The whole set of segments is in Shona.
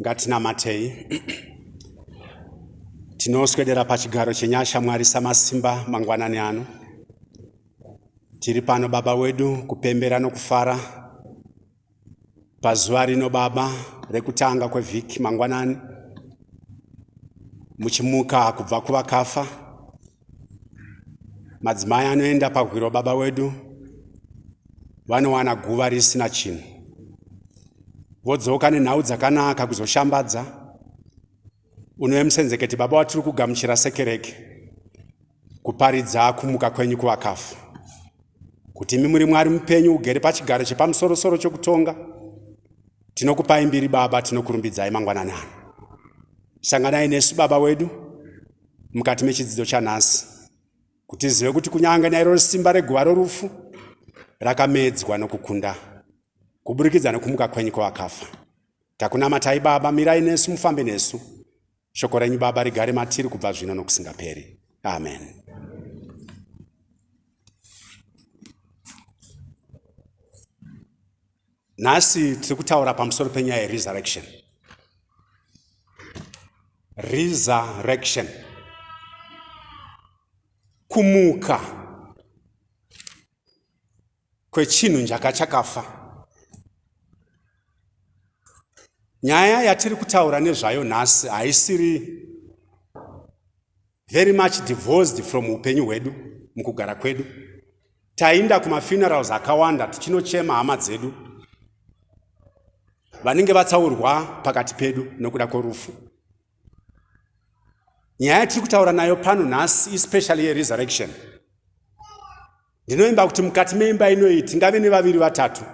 Ngatinamatei. Tinoswedera pachigaro chenyasha Mwari Samasimba mangwanani ano. Tiri pano Baba wedu kupembera nokufara pazuva rino Baba rekutanga kwevhiki mangwanani muchimuka kubva kuvakafa Madzimai anoenda pahwiro baba wedu vanowana guva risina chinhu, vodzoka nenhau dzakanaka kuzoshambadza. Unouya musenzeketi, baba watiri kugamuchira sekereke, kuparidza kumuka kwenyu kuvakafu, kuti imi muri Mwari mupenyu, ugere pachigaro chepamusorosoro chokutonga. Tinokupai mbiri baba, tinokurumbidzai mangwanani ano. Sanganai nesu baba wedu, mukati mechidzidzo chanhasi kuti tizive kuti kunyange nairo simba reguva rorufu rakamedzwa nokukunda kuburikidza nokumuka kwenyu kwevakafa takunamatai baba mirai nesu mufambe nesu shoko renyu baba rigare matiri kubva zvino nokusingaperi amen, amen. Nhasi tiri kutaura pamusoro penyaya yeresurrection. Resurrection. Kumuka kwechinhu njaka chakafa. Nyaya yatiri kutaura nezvayo nhasi haisiri very much divorced from upenyu hwedu mukugara kwedu tainda kumafunerals akawanda tichinochema hama dzedu vanenge vatsaurwa pakati pedu nokuda kworufu nyaya yatiri kutaura nayo pano nhasi especially yeresurrection ndinoimba kuti mukati meimba inoyi tingave nevaviri vatatu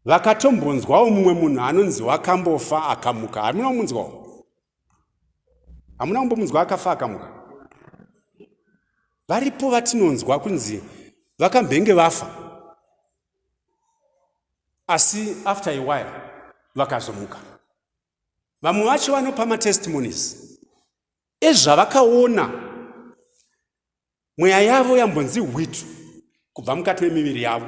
vakatombonzwawo mumwe munhu anonzi wakambofa akamuka hamuna kumunzwawo hamuna kumbomunzwa akafa akamuka varipo vatinonzwa kunzi vakambenge vafa asi after a while vakazomuka vamwe vacho vanopa matestimonies ezvavakaona mweya yavo yambonzi hwitu kubva mukati memiviri yavo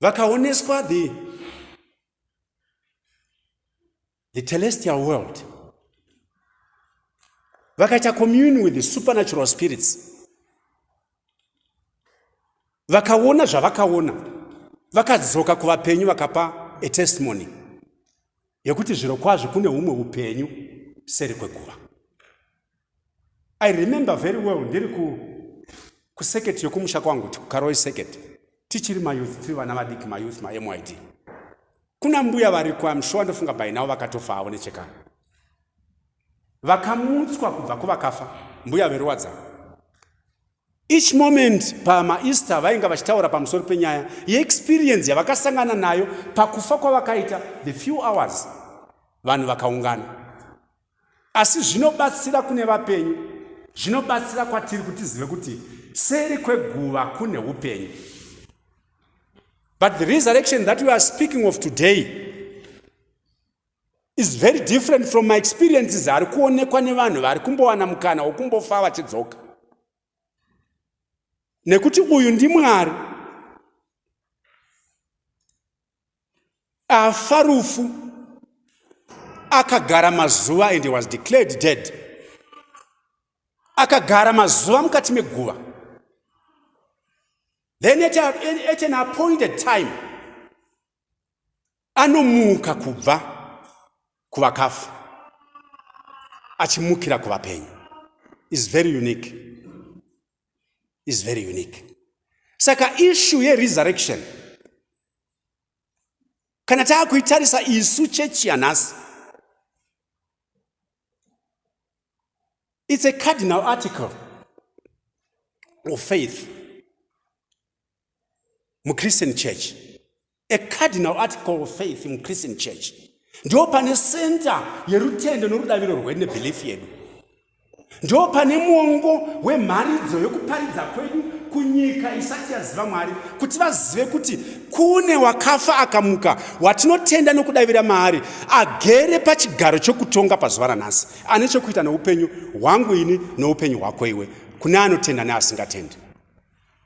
vakaoneswa the, the telestial world vakaita commune with the supernatural spirits vakaona zvavakaona vakadzoka kuvapenyu vakapa a testimony yekuti zviro kwazvo kune umwe upenyu seri kweguva I remember very well ndiri ku kusecurity yokumusha kwangu tikukaroi security tichiri mayouth tiri vana vadiki mayouth mamyd kuna mbuya variko amshuwa ndofunga by now vakatofa havo nechekana vakamutswa kubva kuvakafa mbuya veruwadza each moment pamaeaster vainga vachitaura pamusoro penyaya yeexperience yavakasangana nayo pakufa kwavakaita the few hours vanhu vakaungana Asi zvinobatsira kune vapenyu, zvinobatsira kwatiri kuti tizive kuti seri kweguva kune upenyu. But the resurrection that we are speaking of today is very different from my experiences ari kuonekwa nevanhu vari kumbowana mukana wokumbofa vachidzoka nekuti uyu ndimwari afa rufu akagara mazuva and was declared dead akagara mazuva mukati meguva then at, a, at an appointed time anomuka kubva kuvakafa achimukira kuvapenyu is very unique is very unique saka issue yeresurrection kana taakuitarisa isu chechi yanhasi it's a cardinal article of faith muchristian church a cardinal article of faith muchristian church ndo pane center yerutendo norudaviro rwedu nebelief yedu ndo pane mwongo wemharidzo yokuparidza kwedu kunyika isati yaziva mwari kuti vazive kuti kune wakafa akamuka watinotenda nokudavira maari agere pachigaro chokutonga pazuva ranhasi ane chokuita noupenyu hwangu ini noupenyu hwako iwe kune anotenda neasingatendi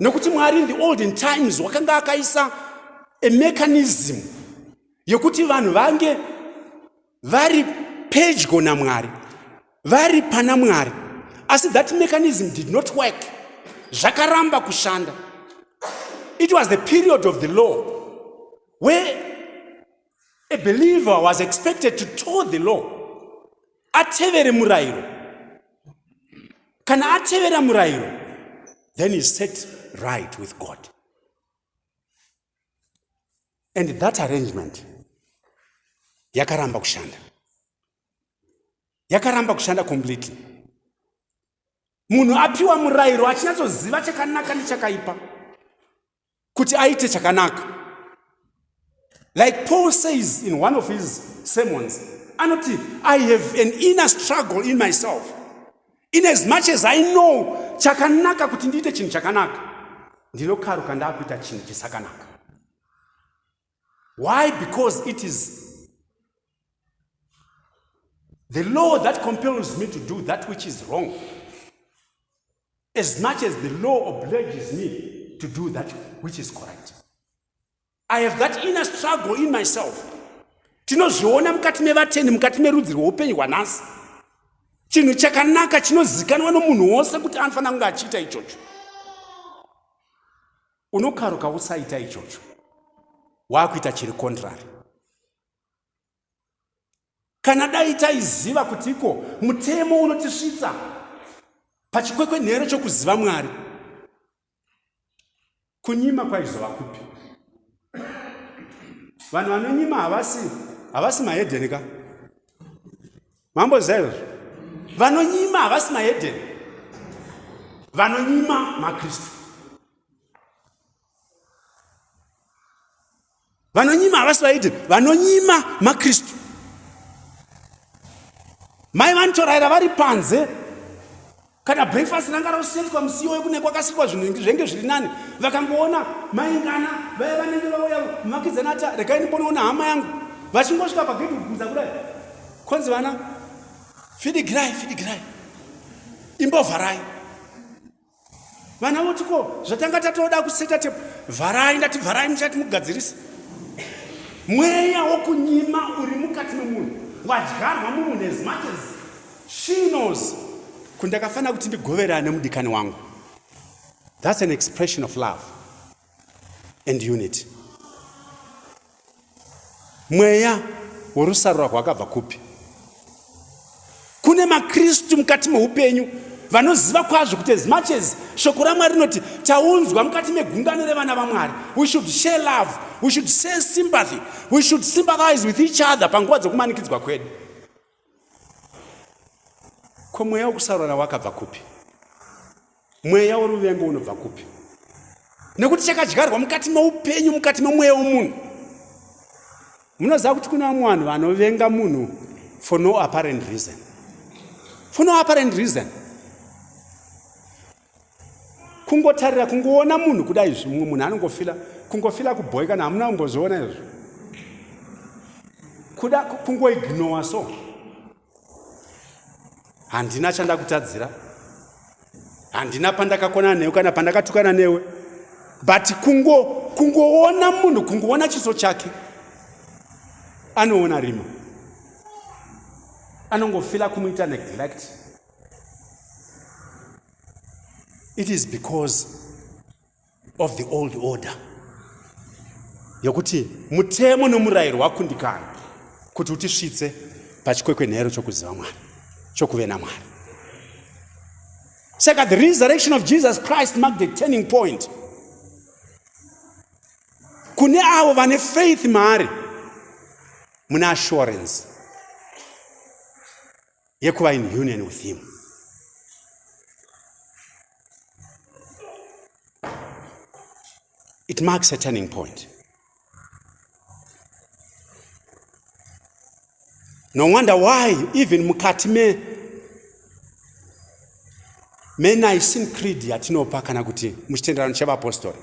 nekuti mwari in the olden times wakanga akaisa a mechanism yekuti vanhu vange vari pedyo namwari vari pana mwari asi that mechanism did not work zvakaramba kushanda it was the period of the law where A believer was expected to toe the law. Atevere murairo. Kana atevera murairo, then he's set right with God. And that arrangement yakaramba kushanda. Yakaramba kushanda completely. Munhu apiwa murairo achinyatsoziva chakanaka nechakaipa. kuti aite chakanaka like paul says in one of his sermons anoti i have an inner struggle in myself in as much as i know chakanaka kuti ndiite chinhu chakanaka ndinokaruka ndaakuita chinhu chisakanaka Why? Because it is the law that compels me to do that which is wrong. As much as the law obliges me to do that which is correct. I have that inner struggle in myself. Tinozviona mukati mevateni mukati merudzi rweupenyu hwanhasi. Chinhu chakanaka chinozikanwa nomunhu wose kuti anofanira kunge achiita ichocho. Unokaruka usaita ichocho. Wakuita chiri contrary. Kana dai taiziva kuti iko mutemo unotisvitsa pachikwekwenhero chokuziva Mwari. Kunyima kwaizova kupi? Vanhu vanonyima havasi havasi mahedeni ka? mambo zero vanonyima havasi mahedeni vanonyima makristu vanonyima havasi vaidi vanonyima makristu mai vanotoraira vari panze kana breakfast ranga rosetwa musiwo wekune kwakasikwa zvinhu zvenge zviri nani vakangoona maingana vaya vanenge vauya mumakidzana ati regai ndimbonoona hama yangu vachingosvika pagedhi kubvunza kudai kwanzi vana fidigirai fidigirai imbovharai vana voti ko zvatanga tatoda kuseta tepo vharai ndati vharai muchati mugadzirise mweya wokunyima uri mukati memunhu wadyarwa mumunhu as much as She knows kuti ndakafanira kuti ndigoverane nemudikani wangu. That's an expression of love and unity. Mweya worusarura rwakabva kupi? Kune maKristu mukati meupenyu vanoziva kwazvo kuti as much as shoko ramwari rinoti taunzwa mukati megungano revana vamwari we should share love we should share sympathy we should sympathize with each other panguva dzokumanikidzwa kwedu ko mweya wokusarora wakabva kupi mweya woruvengo unobva kupi nekuti chakadyarwa mukati meupenyu mukati memweya womunhu munoziva kuti kuna vamwe vanhu vanovenga munhu for no apparent reason for no apparent reason kungotarira kungoona munhu kuda izvi mumwe munhu anongofila kungofila kubhoyi kana hamuna kumboziona izvi kuda kungoignowa so handina chandakutadzira handina pandakakonana newe kana pandakatukana newe but kungo kungoona munhu kungoona chiso chake anoona rima anongofila kumuita neglect it is because of the old order yokuti mutemo nomurayiro wakundikana kuti utisvitse pachikwekwenhero chokuziva mwari chokuve namwari saka the resurrection of jesus christ mark the turning point kune avo vane faith maari mune assurance yekuva in union with him it marks a turning point no wonder why even mukati me menaisin creed yatinopa kana kuti muchitenderano chevapostori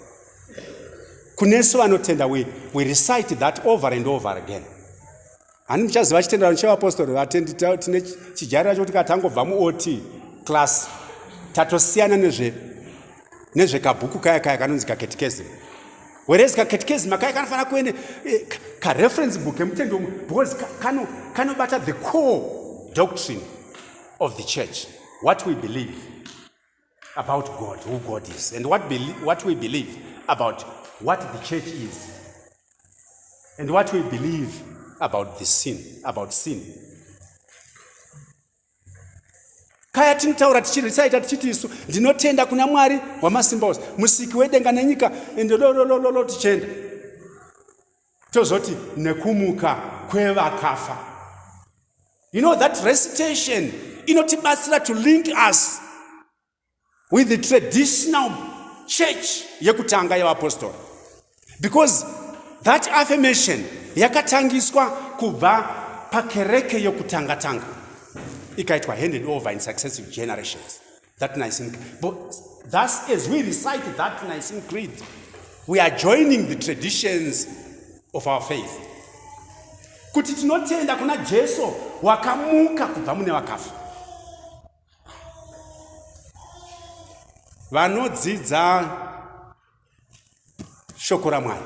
kunesu vanotenda we, we recite that over and over again Hani muchaziva chitenderano chevapostori vatendi tine chijarira chokuti kana tangobva muot class tatosiyana nezve nezvekabhuku kaya kaya kanonzi kaketikezi whereas kaketikezi makaya kanofanira kuene eh, kareference book kemutendi womwe because kanobata kano the core doctrine of the church what we believe about God, who God is, and what, what we believe about what the church is, and what we believe about the sin, about sin. kaya tinotaura tichirisaita tichiti isu ndinotenda kuna mwari wamasimba ose musiki wedenga nenyika ndololololo tichienda tozoti nekumuka kwevakafa you know that recitation inotibatsira to link us with the traditional church yekutanga yevapostori because that affirmation yakatangiswa kubva pakereke yokutanga tanga ikaitwa handed over in successive generations that Nicene Creed. But thus, as we recite that Nicene Creed, we are joining the traditions of our faith. Kuti tinotenda kuna Jesu wakamuka kubva mune vakafa. Vanodzidza shoko raMwari.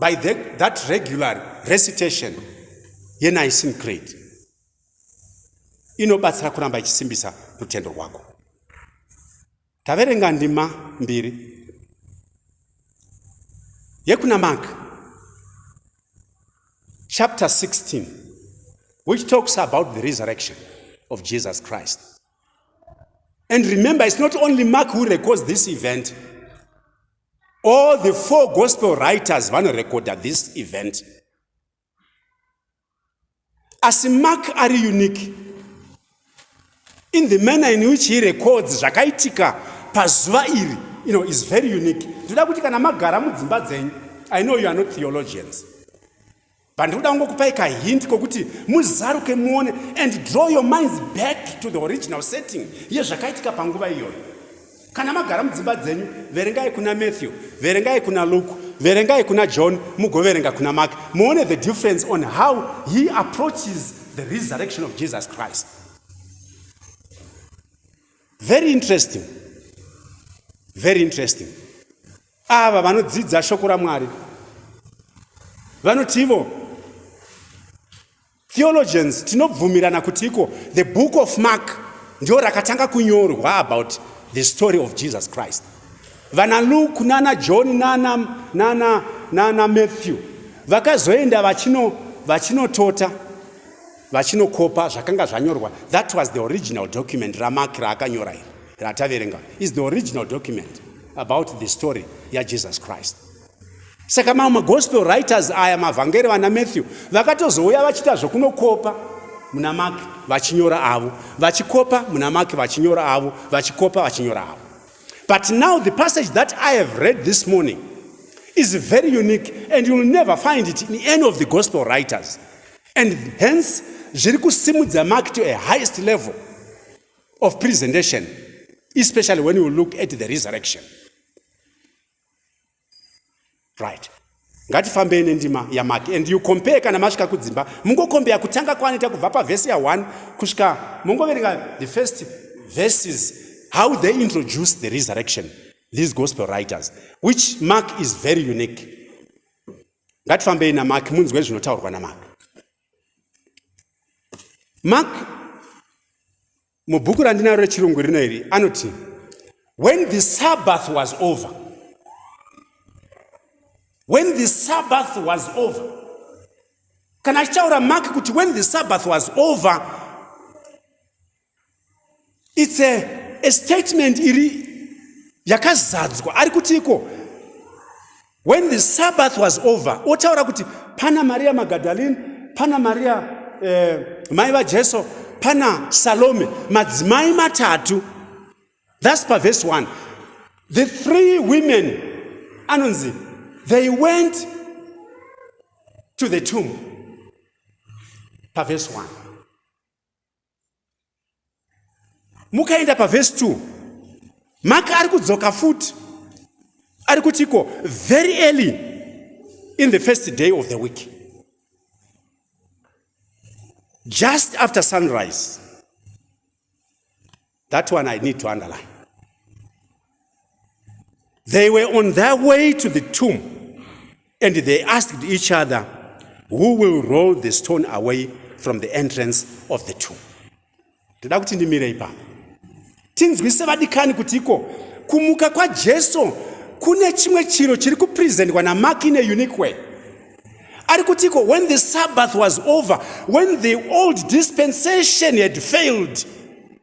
by the, that regular recitation yenicene creed inobatsira kuramba ichisimbisa rutendo rwako taverenga ndima mbiri yekuna mark chapter 16 which talks about the resurrection of jesus christ and remember it's not only mark who records this event All the four gospel writers vanorekodha this event. Asi Mark ari unique in the manner in which he records zvakaitika pazuva iri you know, is very unique. Ndoda kuti kana magara mudzimba dzenyu, I know you are not theologians. Pandinoda kungokupai ka hint kokuti muzaruke muone and draw your minds back to the original setting yezvakaitika panguva iyoyo. Kana magara mudzimba dzenyu, verengai kuna Matthew, verengai kuna Luke, verengai kuna John, mugoverenga kuna Mark. Muone the difference on how he approaches the resurrection of Jesus Christ. Very interesting. Very interesting. Ava vanodzidza shoko raMwari vanoti ivo theologians tinobvumirana kuti iko the book of mark ndio rakatanga kunyorwa about the story of jesus christ vana luke nana john nana, nana, nana matthew vakazoenda vachino vachinotota vachinokopa zvakanga zvanyorwa that was the original document ramark raakanyora iri rataverenga is the original document about the story yajesus christ saka mamwe magospel writers aya mavhangeri vana matthew vakatozouya vachiita zvokunokopa muna maki vachinyora avo vachikopa muna maki vachinyora avo vachikopa vachinyora avo but now the passage that i have read this morning is very unique and youll never find it in any of the gospel writers and hence zviri kusimudza maki to a highest level of presentation especially when you look at the resurrection right ngatifambei nendima yamaki and you compare kana masvika kudzimba mungokombeya kutanga kwanoita kubva pavhesi ya1 kusvika mongoverenga the first verses how they introduce the resurrection these gospel writers which mark is very unique ngatifambei namaki munzwe zvinotaurwa namaki mark mubhuku randinaro rechirungu rino iri anoti when the sabbath was over when the sabbath was over kana achitaura mark kuti when the sabbath was over its a, a statement iri yakazadzwa ari kuti iko when the sabbath was over otaura kuti pana maria magadalene pana maria eh, mai vajesu pana salome madzimai matatu thus paverse 1 the three women anonzi they went to the tomb paverse 1 mukaenda pavhesi 2 maka ari kudzoka futi ari kutiko very early in the first day of the week just after sunrise that one i need to underline They were on their way to the tomb and they asked each other, Who will roll the stone away from the entrance of the tomb? Toda kuti ndimire ipapo. Tinzwise vadikani kuti iko kumuka kwaJesu kune chimwe chiro chiri kupresentwa naMark in a unique way. Ari kuti iko when the Sabbath was over, when the old dispensation had failed,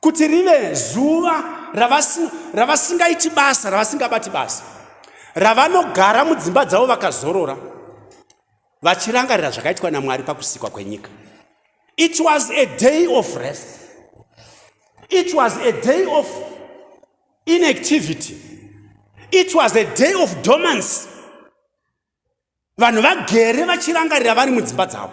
kuti rive zuva ravasingaiti basa ravasingabati basa ravanogara mudzimba dzavo vakazorora vachirangarira zvakaitwa namwari pakusikwa kwenyika it was a day of rest it was a day of inactivity it was a day of domancy vanhu vagere vachirangarira vari mudzimba dzavo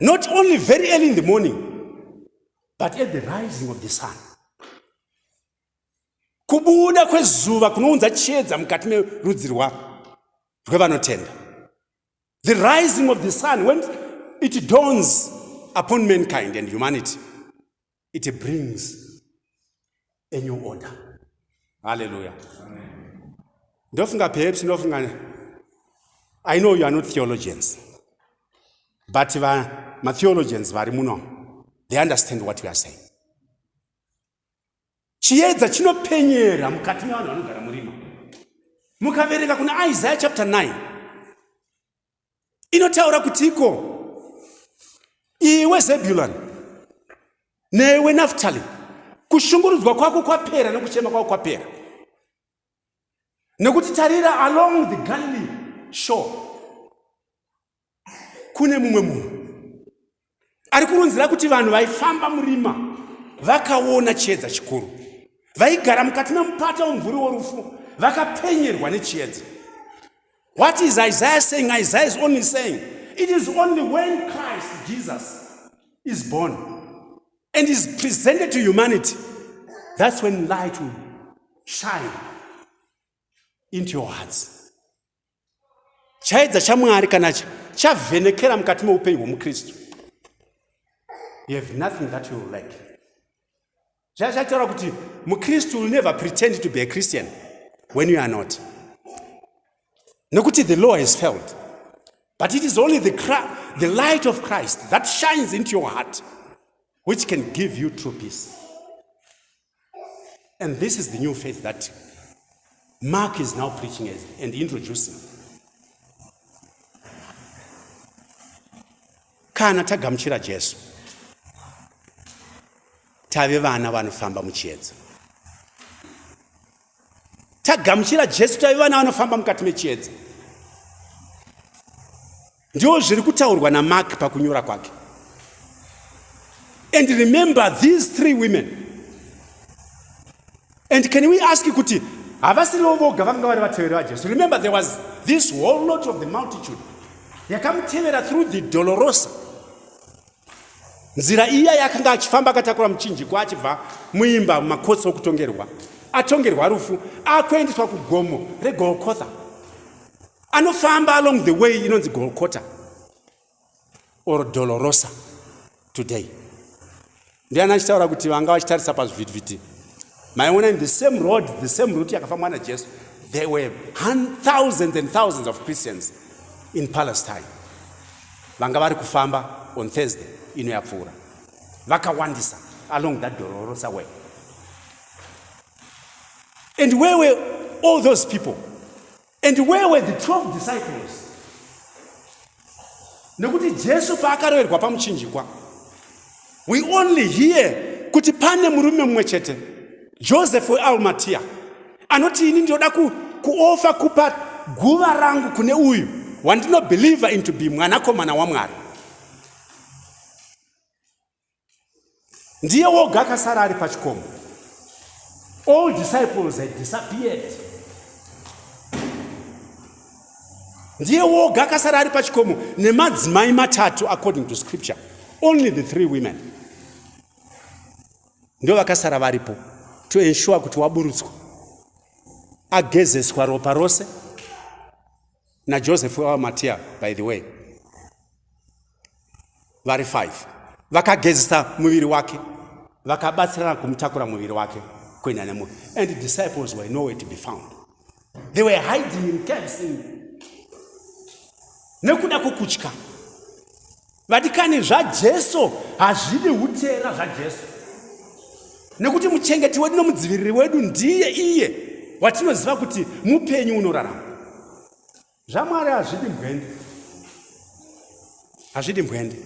not only very early in the morning but at the rising of the sun kubuda kwezuva kunounza chiedza mukati merudzi rwevanotenda the rising of the sun when it dawns upon mankind and humanity it brings a new order halleluya ndofunga perhaps ndofunga i know you are not theologians but matheologians vari muno they understand what we are saying chiedza chinopenyera mukati mevanhu vanogara murima mukaverenga kuna isaya chapter 9 inotaura kutiko iwe zebulani newe naftali kushungurudzwa kwako kwapera nekuchema kwako kwapera nekuti tarira along the galilee shore kune mumwe munhu Ari kurunzira kuti vanhu vaifamba murima vakaona chiedza chikuru, vaigara mukati memupata womumvuri worufu vakapenyerwa nechiedza. What is Isaiah saying? Isaiah is only saying it is only when Christ Jesus is born and is presented to humanity that's when light will shine into your hearts. chaedza chamwari kana chavhenekera mukati meupenyu hwomukristu you have nothing that you like zvazvataura kuti mukristu will never pretend to be a christian when you are not nokuti the law has failed but it is only the, the light of christ that shines into your heart which can give you true peace And this is the new faith that Mark is now preaching and introducing. Kana tagamuchira Jesu, tave vana vanofamba muchiedza. Tagamuchira Jesu, tave vana vanofamba mukati mechiedza. Ndiwo zviri kutaurwa naMark pakunyora kwake. And remember these three women. And can we ask kuti havasirivo voga vakanga vari vateveri vaJesu. Remember there was this whole lot of the multitude yakamutevera through the Dolorosa. Nzira iya yakanga achifamba akatakura muchinjiko achibva muimba mumakotsi okutongerwa. Atongerwa rufu akuendeswa kugomo reGolgotha. anofamba along the way inonzi golcota or dolorosa today ndiani achitaura kuti vanga vachitarisa pazvivhitivhiti maiona in the same road the same route yakafambwa najesu there were thousands and thousands of christians in palestine vanga vari kufamba on thursday ino yapfuura vakawandisa along that dolorosa way and where were all those people And where were the 12 disciples? Nekuti Jesu paakaroverwa pamuchinjikwa. We only hear kuti pane murume mumwe chete. Joseph weAlmatia. Anoti ini ndinoda ku, kuofa kupa guva rangu kune uyu wandinobhilivha into be mwanakomana waMwari. ndiye woga akasara ari pachikomo all disciples had disappeared ndiye woga akasara ari pachikomo nemadzimai matatu according to scripture only the three women ndo vakasara varipo to ensure kuti waburutswa agezeswa ropa rose najoseph wamatiya by the way vari five vakagezesa muviri wake vakabatsirana kumutakura muviri wake kuenda nemuviri and the disciples were nowhere to be found they were hiding in caves nekuda kwokutya vadikani zvajesu hazvidi utera zvajesu nekuti muchengeti wedu nomudziviriri wedu ndiye iye watinoziva kuti mupenyu unorarama zvamwari hazvidi mbwende hazvidi mbwende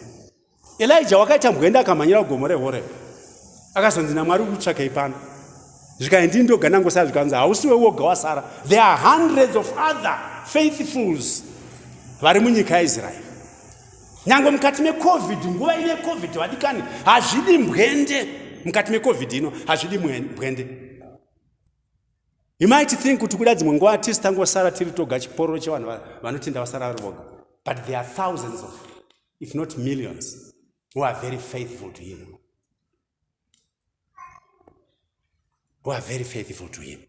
elija wakaita mbwende akamhanyira kugomo rehoreb akazonzi namwari ukutsvakei pano zvikai ndini ndoga nangosara zvikanzi hausiwe woga wasara there are hundreds of other faithfuls vari munyika yaisraeri nyange mukati mecovid nguva ine covid vadikani hazvidi mbwende mukati mecovid ino hazvidi mbwende He might think kuti kuda dzimwe nguva tisi tangosara tiri toga chipororo chevanhu vanotenda vasara vari voga. But there are thousands of, if not millions, who are very faithful to him. Who are very faithful to him.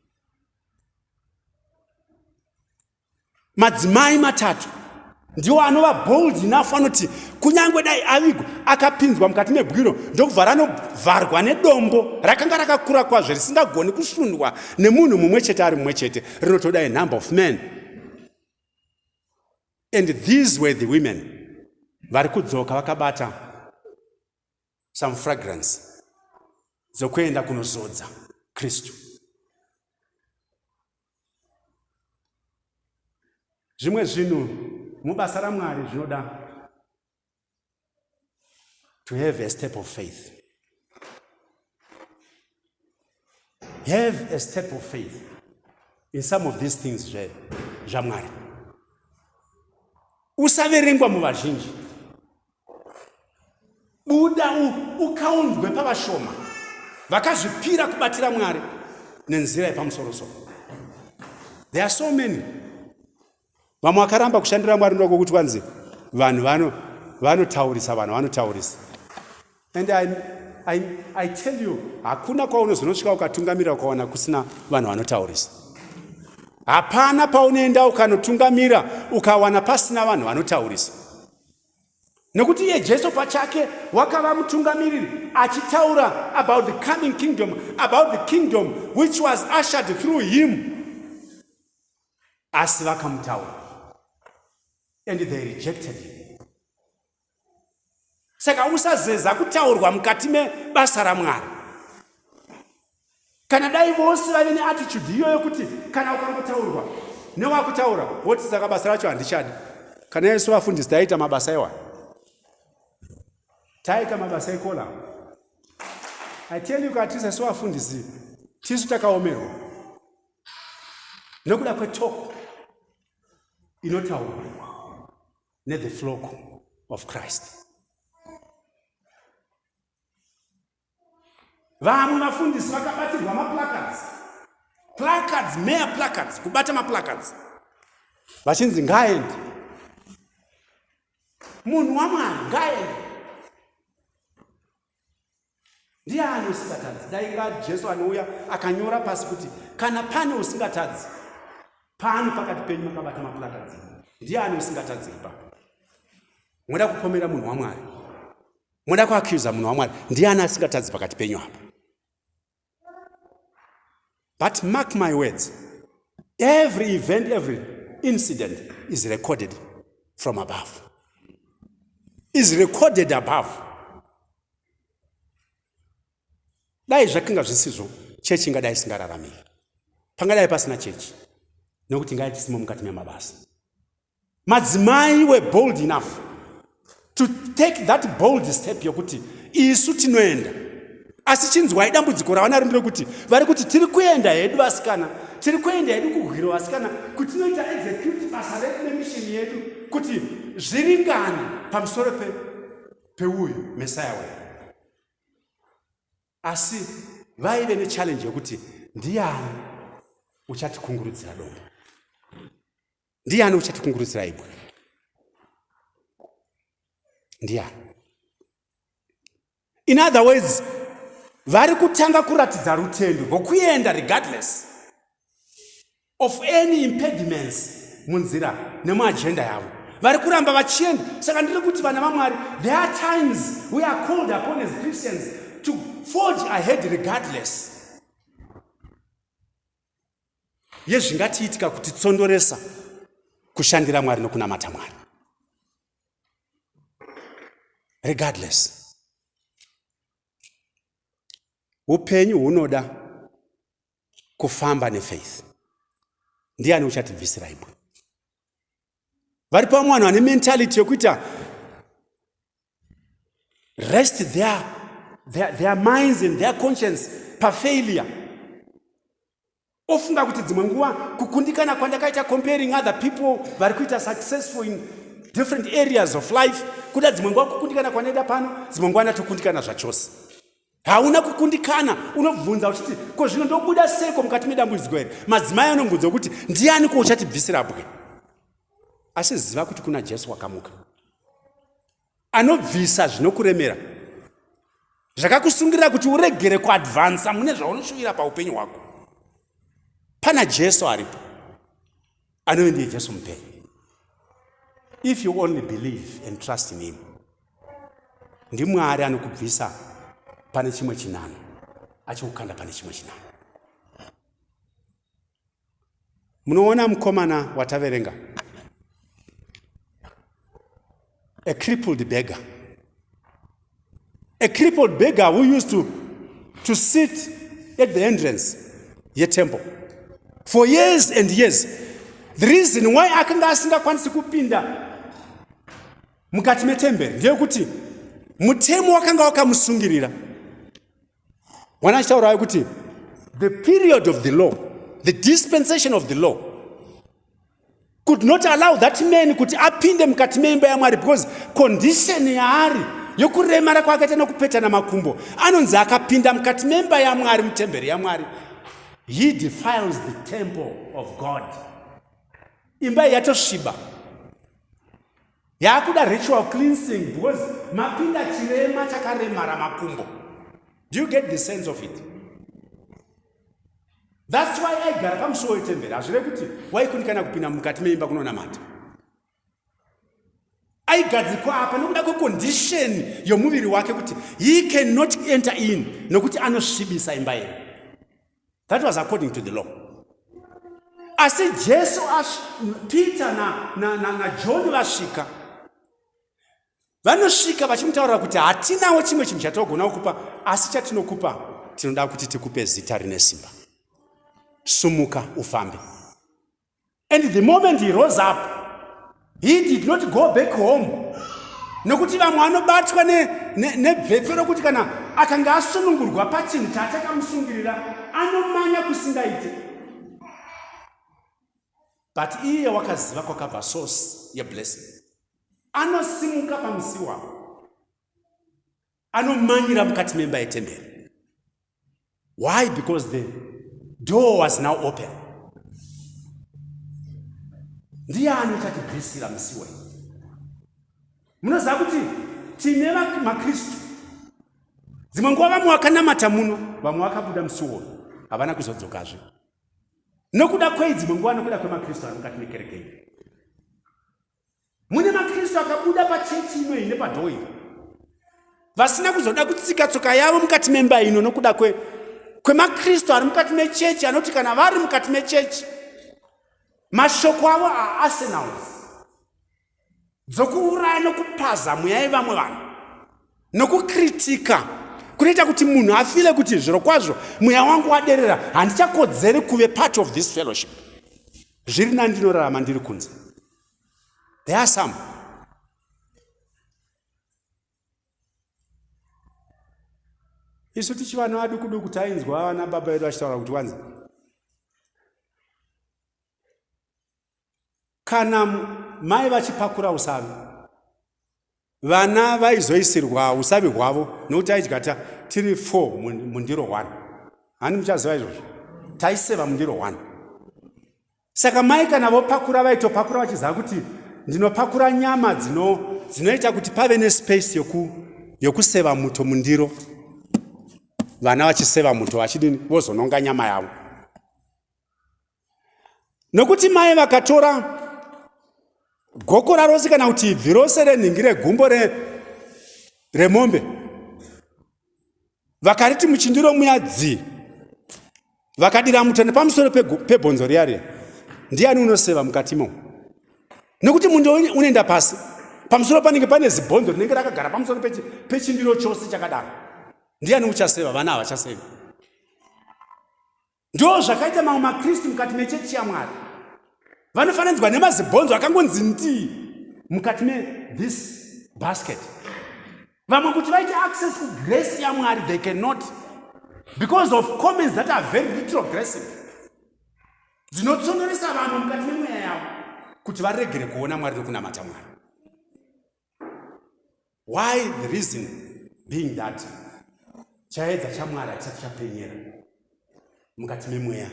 madzimai matatu ndiwo anova bold enough anoti kunyange dai avigwa akapinzwa mukati mebwiro ndokubva ranovharwa nedombo rakanga rakakura kwazvo risingagoni kusundwa nemunhu mumwe chete ari mumwe chete rinotoda a number of men and these were the women vari kudzoka vakabata some fragrance dzokuenda kunozodza kristu zvimwe zvinhu mubasa ramwari zvinoda to have a step of faith have a step of faith in some of these things zve zvamwari usaverengwa muvazhinji buda ukaunzwe pavashoma vakazvipira kubatira mwari nenzira yepamusorosoro there are so many vamwe vakaramba kushandira mwari ndoda kwokuti vanzi vanhu vano vanotaurisa vanhu vanotaurisa and I, I, I tell you hakuna kwaunozonosvika ukatungamira ukawana kusina vanhu vanotaurisa hapana paunoenda ukanotungamira ukawana pasina vanhu vanotaurisa nekuti iye jesu pachake wakava mutungamiriri achitaura about the coming kingdom about the kingdom which was ushered through him asi vakamutaura and they rejected him saka usazeza kutaurwa mukati mebasa ramwari Kana dai vose vaive neattitude iyoyo kuti kana ukari kutaurwa newakutaura woti saka basa racho handichadi kana yaisu vafundisi taiita mabasa iwa taiita mabasa ikola i tell you kati sesu vafundisi tisu takaomerwa nekuda kwetoko inotaurwa nethe flock of christ vamwe vafundisi vakabatirwa maplacards placards mere placards kubata maplacards vachinzi ngaaendi munhu wamwari ngaaendi ndiye ani usingatadzi dai nga jesu anouya akanyora pasi kuti kana pane usingatadzi pano pakati penyu makabata maplacards ndiye ani usingatadzi ipapo moda kupomera munhu wamwari moda kuacusa munhu wamwari ndiani asingatadzi pakati penyu apa but mark my words every event every incident is recorded from above is recorded above dai zvakinga zvisizvo chechi ingadai isingararamiri pangadai pasina chechi nekuti ngai tisimo mukati memabasa madzimai were bold enough to take that bold step yokuti isu tinoenda asi chinzwai dambudziko ravanaro ndiro kuti vari kuti tiri kuenda hedu vasikana tiri kuenda hedu kuhwiro vasikana kuti tinoita execute basa redu nemishini yedu kuti zviringane pamusoro peuyu mesaya wedu asi vaive nechallenji yokuti ndiani uchatikungurudzira dombo Ndiani uchatikungurutsira imwe? Ndiani? In other words, vari kutanga kuratidza rutendo rwokuenda regardless of any impediments munzira nemuagenda yavo vari kuramba vachienda saka ndiri kuti vana vamwari there are times we are called upon as christians to forge ahead regardless yezvingatiitika kuti tsondoresa kushandira mwari nokunamata mwari regardless upenyu hunoda kufamba nefaith ndiani uchatibvisira ibwe vari pamwe vanhu vane mentality yekuita rest their, their, their minds and their conscience pafailure ofunga kuti dzimwe nguva kukundikana kwandakaita comparing other people vari kuita successful in different areas of life kuda dzimwe nguva kukundikana kwanoita pano dzimwe nguva ndatokundikana zvachose hauna kukundikana unobvunza uchiti ko zvino ndobuda seiko mukati medambudziko here madzimai anobvunza kuti ndiani ko uchatibvisira bwe asi ziva kuti kuna jesu wakamuka anobvisa zvinokuremera zvakakusungirira kuti uregere kuadvansa mune zvaunoshuvira paupenyu hwako pana jesu aripo anove ndiye jesu mupenyu if you only believe and trust in him ndimwari anokubvisa pane chimwe chinano achikukanda pane chimwe chinano munoona mukomana wataverenga a crippled beggar. A crippled beggar who used to, to sit at the entrance ye temple for years and years. The reason why akanga asingakwanisi kupinda mukati metemberi ndeyekuti mutemo wakanga wakamusungirira. mwana achitaurayo kuti the period of the law the dispensation of the law could not allow that man kuti apinde mukati meimba yamwari because condition yaari yokuremara kwaakaita nokupetana makumbo anonzi akapinda mukati memba yamwari mutemberi yamwari he defiles the temple of god imba iyi yatosviba yakuda ritual cleansing because mapinda chirema chakaremara makumbo do you get the sense of it thats why aigara pamusuwo wetemberi hazvive kuti waikundikana kupinda mukati meimba kunonamata aigadzikwa apa nokuda kwekondisheni yomuviri wake kuti he cannot enter in nokuti anosvibisa imba yero that was according to the law asi jesu peter najohn na, na, na vasvika vanosvika vachimutaurira kuti hatinawo chimwe chinhu chatinogona kukupa asi chatinokupa tinoda kuti tikupe zita rine simba sumuka ufambe And the moment he rose up, he did not go back home. Nokuti vamwe vanobatwa nebvetso ne, ne rokuti kana akanga asunungurwa pachinhu chaachakamusungirira anomanya kusingaite. But iye wakaziva kwakabva source yeblessing. Anosimuka pamusi wavo. Anomanyira mukati memba yetemberi. Why? Because the door was now open. Ndiani uchatibvisira musi wei? Munoziva kuti tine maKristu dzimwe nguva vamwe vakanamata muno, vamwe vakabuda musi wono, havana kuzodzokazve nokuda kwei? Dzimwe nguva nokuda kwemaKristu ari mukati mekereke iyi. Mune maKristu akabuda pachechi ino iyi nepadhoo iri vasina kuzoda kutsika tsoka yavo mukati memba ino nokuda kwe kwemaKristu ari mukati mechechi anoti kana vari mukati mechechi mashoko avo aarsenals dzokuuraya nokupaza mweya yevamwe vanhu nokukritika kunoita kuti munhu afile kuti zviro kwazvo mweya wangu waderera handichakodzeri kuve part of this fellowship zviri nani ndinorarama ndiri kunze there are some isu tichivana vaduku duku tainzwa vana baba vedu vachitaura kuti wanzi kana mai vachipakura usavi vana vaizoisirwa usavi hwavo nokuti aidya ta tiri four mundiro one hani muchaziva izvozvo taiseva mundiro one saka mai kana vopakura vaitopakura vachiziva kuti ndinopakura nyama dzino dzinoita kuti pave nespace yoku yokuseva muto mundiro vana vachiseva muto vachidini vozononga nyama yavo nokuti mai vakatora gokora rose kana kuti ibvi rose renhingi regumbo remombe vakariti muchindiro muya dzii vakadira muto nepamusoro pebhonzo riya riya ndiani unoseva mukati imomo nokuti mundo unoenda pasi pamusoro panenge pane zibhonzo rinenge rakagara pamusoro pechindiro chose chakadaro ndiani uchaseva vana havachaseva Ndo zvakaita mamwe maKristu mukati mechechi yaMwari. Vanofananidzwa nemazibhonzo akangonzi ndii mukati me this basket. Vamwe kuti vaite access ku grace yaMwari they cannot because of comments that are very retrogressive dzinotsonderesa vanhu mukati memweya yavo kuti varegere kuona Mwari nekunamata Mwari. why the reason being that chaedza chamwari hatisati chapenyera mukati memweya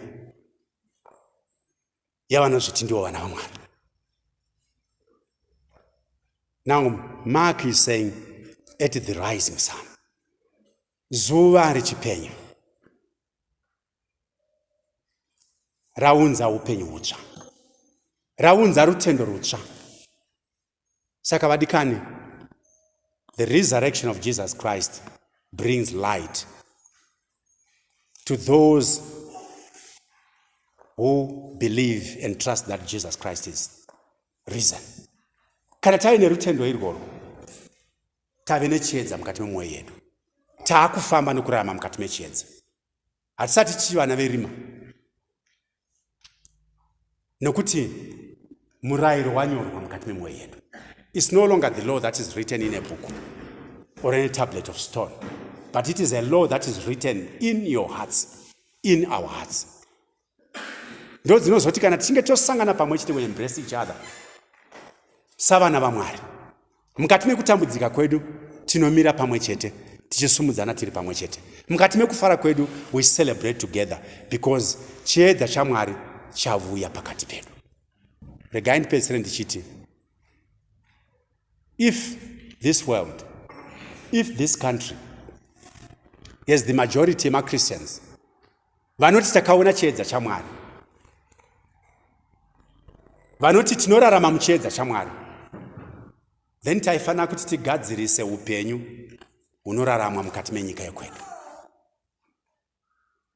yavanozviti ndiwo vana vamwari now mark is saying at the rising sun zuva richipenya raunza upenyu hutsva raunza rutendo rutsva saka vadikani the resurrection of jesus christ brings light to those who believe and trust that jesus christ is risen kana tave nerutendo irworwo tave nechiedza mukati memwoyo yedu taakufamba nokurarama mukati mechiedza hatisati tichivana verima nokuti murayiro wanyorwa mukati memwoyo yedu is no longer the law that is written in a book or in a tablet of stone but it is a law that is written in your hearts in our hearts ndo dzinozoti kana tichinge tosangana pamwe chete we embrace each other savana vamwari mukati mekutambudzika kwedu tinomira pamwe chete tichisumudzana tiri pamwe chete mukati mekufara kwedu we celebrate together because chiedza chamwari chavuya pakati pedu regai ndipedzisire ndichiti if this world if this country has the majority yemachristians vanoti takaona chiedza chamwari vanoti tinorarama muchiedza chamwari then taifanira kuti tigadzirise upenyu hunoraramwa mukati menyika yekwedu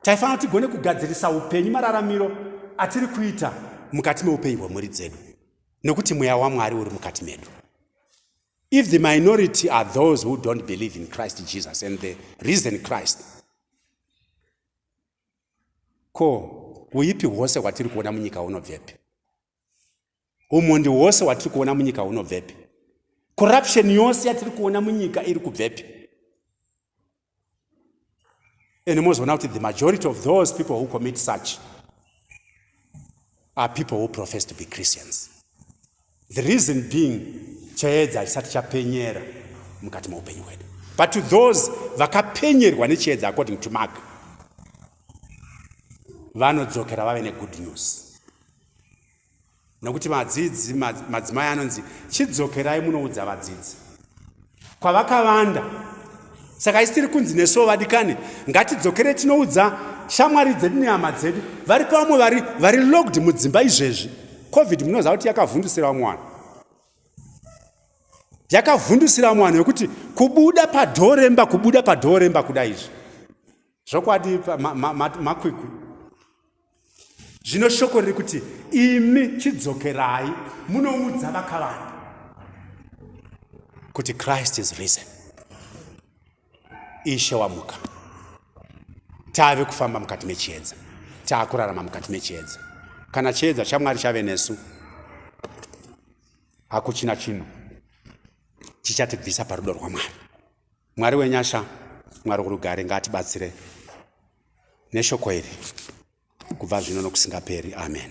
taifanira kuti tigone kugadzirisa upenyu mararamiro atiri kuita mukati meupenyu hwemhuri dzedu nekuti mweya wamwari uri mukati medu if the minority are those who don't believe in christ jesus and the reason christ Ko huipi hwose hwatiri kuona munyika hunobvepi? Umhondi hwose hwatiri kuona munyika hunobvepi? Corruption yose yatiri kuona munyika iri kubvepi? And mozoona kuti the majority of those people who commit such are people who profess to be Christians. The reason being chiedza hachisati chapenyera mukati meupenyu hwedu but to those vakapenyerwa nechiedza according to mark vanodzokera vave negood news nokuti vadzidzi madzimai anonzi chidzokerai munoudza vadzidzi kwavakavanda saka isitiri kunzi nesuwo vadikani ngatidzokere tinoudza shamwari dzedu nehama dzedu vari pavamwe vari vari logged mudzimba izvezvi covid munoziva kuti yakavhundusira vamwe vanhu yakavhundusira vamwe vanhu vekuti kubuda padhoo remba kubuda padhoo remba kuda izvi zvokwadi makwiku ma, ma, ma, zvino shoko riri kuti imi chidzokerai munoudza vakavanda kuti christ is risen ishe wamuka tave kufamba mukati mechiedza taakurarama mukati mechiedza kana chiedza chamwari chave nesu hakuchina chinhu chichatibvisa parudo rwamwari mwari wenyasha mwari urugare ngaatibatsire neshoko iri kubva zvino nokusingaperi amen